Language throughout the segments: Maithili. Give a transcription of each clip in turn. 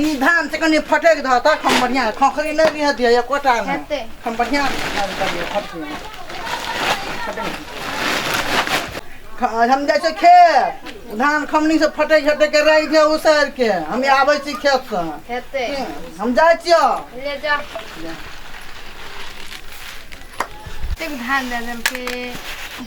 ई धान से कनी फटक ध तक हम बढ़िया खखरी नहीं दिया दिया या कोटा में हेतै। हम बढ़िया धान कर दिया खखरी में। ख- हम जाइ छै खेत धान खमनी से फटै छटै के राखि दिया उसर के हम आबै छी खेत से हेतै हम जाइ छियो ले जा एतेक धान दए देलकै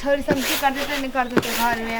छोरी सब की करतै तऽ नहि करतै तऽ घरमे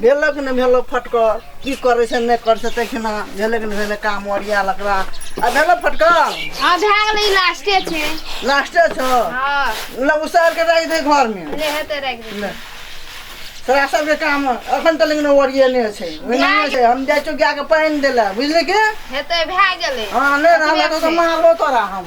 भेलक ने भेलक फटकल की करै छै नहि करै छै तखना भेलक ने भेलक काम ओरिया लकड़ा आ भेलक फटकल हाँ भए गेलै ई लास्टे छै लास्टे छौ हाँ ल उसार के राखि दे घर में ले हेतै राखि दे ले तोरा सबके काम अखन तक लेकिन ओरियेने छै ओहिने छै हम जाइ छियौ गाय के पानि देला बुझली के हेतै भए गेलै हाँ नहि रहला तो मारबो तोरा हम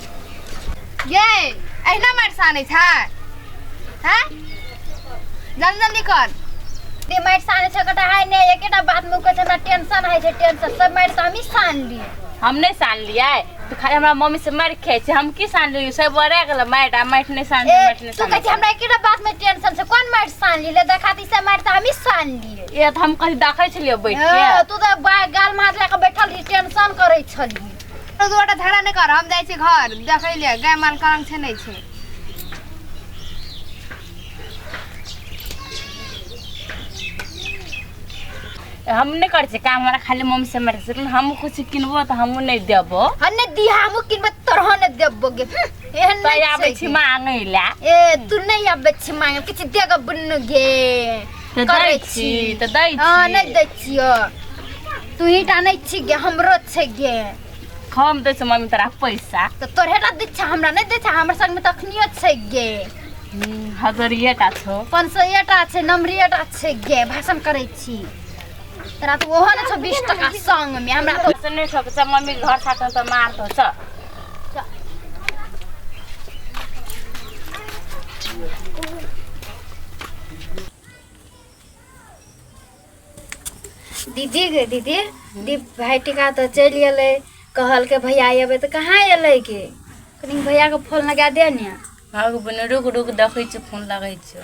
ये अहिना मारि सानै छै हैं जल्दी जल्दी कर ते मारि साने छै कटा है ने एकेटा बात में कहै छै हमरा टेंशन है छै टेंशन सब मारि तऽ हमही सान ली हम नहीं सान लिया तो खाली हमारा मम्मी से मार खाए छे हम की सान लियो सब बड़ा गेल मार आ मार नहीं सान ए, मार नहीं तू कहै छै सान हमरा एकेटा बात में टेंशन छै कोन मारि सान ली ले देखा दी से मारि तऽ हमही सान ली ये तो हम कहीं देखे छलिए बैठ हाँ, के तू तऽ बा- गाल मार लए कऽ बैठल रही टेंशन करै छली तू दुआटा झगड़ा नहि कर हम जाइ छी घर देखै ले गाय माल काम छै नहि छै हम नहि करै छियै काम हमरा खाली मम्मी से मारै छै हम कुछ किनबो तऽ हमहूँ नहि देबो हम नहि दी हमहूँ किनबै तोरह नहि देबो गे हम्म, एहन तै नहि आबै छै छी गे। मांगै लए ए तू नहि आबै छी मांगे किछु देगा बुन्नु गे तऽ दै करै छी छी। तऽ दै हँ नहि छी दै छियो तू ही टा नहि छी गे हमरो छै गे हम दै छी मम्मी तोरा पैसा तऽ तोरे टा दै छै हमरा नहि दै छै हमरा संगमे तऽ अखनियो छै गे हम्म, हजरिये टा छौ पाँच सौ एटा छै नम्बरिये टा छै गे भाषण करै छी तोरा तऽ ओहो ने छौ बीस टका संगमे हमरा तऽ से नहि छौ से मम्मी के घर साथमे तऽ मारतो छ दीदी गे दीदी दी भाई टिका तो चल गए कहल के भैया अबे तो कहाँ अलै के कनी भैया के फोन लगा दे ने भाग बने रुक रुक देखै छी फोन लागै छै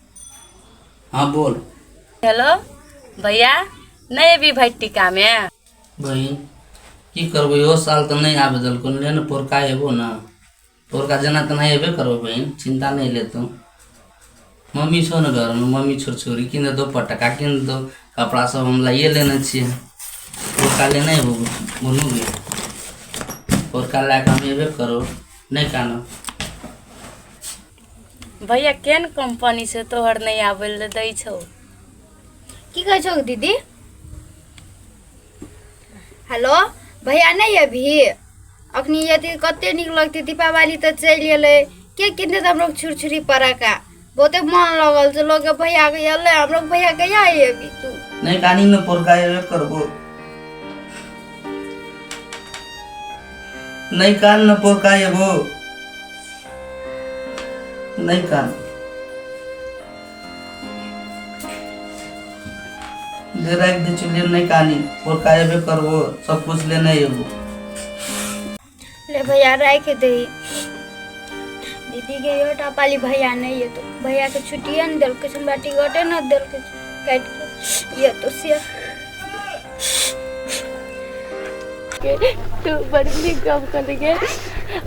हाँ बोल हेलो भैया नहि एबी भाइ टीकामे बहिन की करबै इहो साल तऽ नहि आबे देलको ले ने पोरका एबो ने पोरका जेना तेना एबे करबो बहिन चिंता नहि ले तू मम्मी छौ ने घरमे मम्मी छोड़ छोरी किन दो पटका किन दो कपड़ा सब हम लाइए लेने छियै पोरका लेने एबो बोलू गे पोरका लए कऽ हम एबे करो नहि कानब भैया केन कंपनी से तोहर नहीं आवे ले दै छौ की कहै छौ दीदी हेलो भैया नहीं अभी अखनी यदि कते नीक लगते दीपावली तऽ चलि गेलै के किनते तऽ हमरो छुरछुरी पड़ाका बहुते मन लगल छै लोग भैया के अयलै हमरो भैया कहिया अयबै अभी तू नहीं डानी में पोरका करबो नहीं कान न पो का एगो नहीं कान ले रख दे चुलिए नहीं कानी और का एबे करबो सब कुछ ले नहीं एगो ले भैया रख दे दीदी के यो टापाली भैया नहीं है तो भैया के छुट्टिए न दिल के हमरा टिकटे न दिल के काट के ये तो से तो बड़ नीक गप कहलियै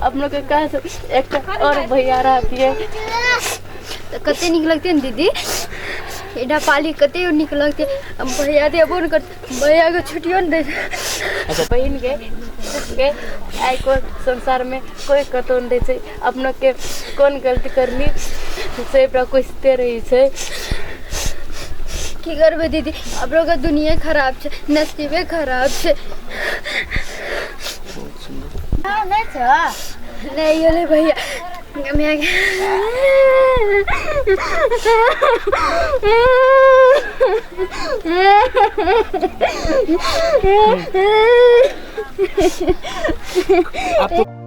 अपनो के कह से एकटा और भैया रहतियै तऽ कते नीक लगतै ने दीदी एडा पाली कते नीक लगतै अब भैया दे अबो ने कर भैया के छुट्टियो ने दे बहिन के के आइ को संसार में कोई कतौ नहीं दै छै अपनाके कोन गलती करली से ओकरा कोसिते रहै छै की करबै दीदी अब लोग दुनिया खराब छै नसीबे खराब छै नहि छ नहि गेलै भैया हमरा के- अब तो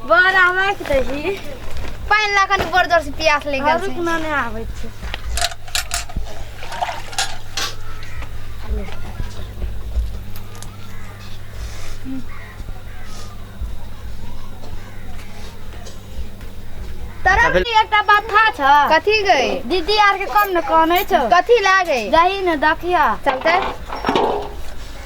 बर आबै के दही पानि लऽ कनि बड़ जोर से प्यास लागि गेल रुक छै ना नहि आबै छै तरफ अबे- भी एकटा बात था छ कथी गई दीदी आर के कम न कहने छौ कथी लागे दही न दखिया चलते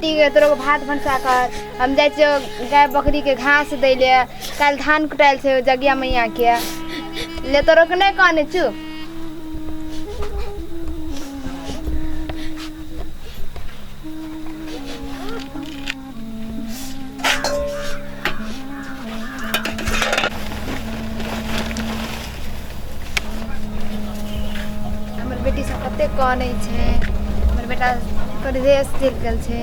ठीक है तोरा भात भनसा कर हम जाइ छियौ गाय बकरी के घास दै ले काल्हि धान कुटायल छै जगिया मैया के ले तोरो के नहि काने छु हमर बेटी सब कते कानै छै हमर बेटा कर्जे सीख गेल छै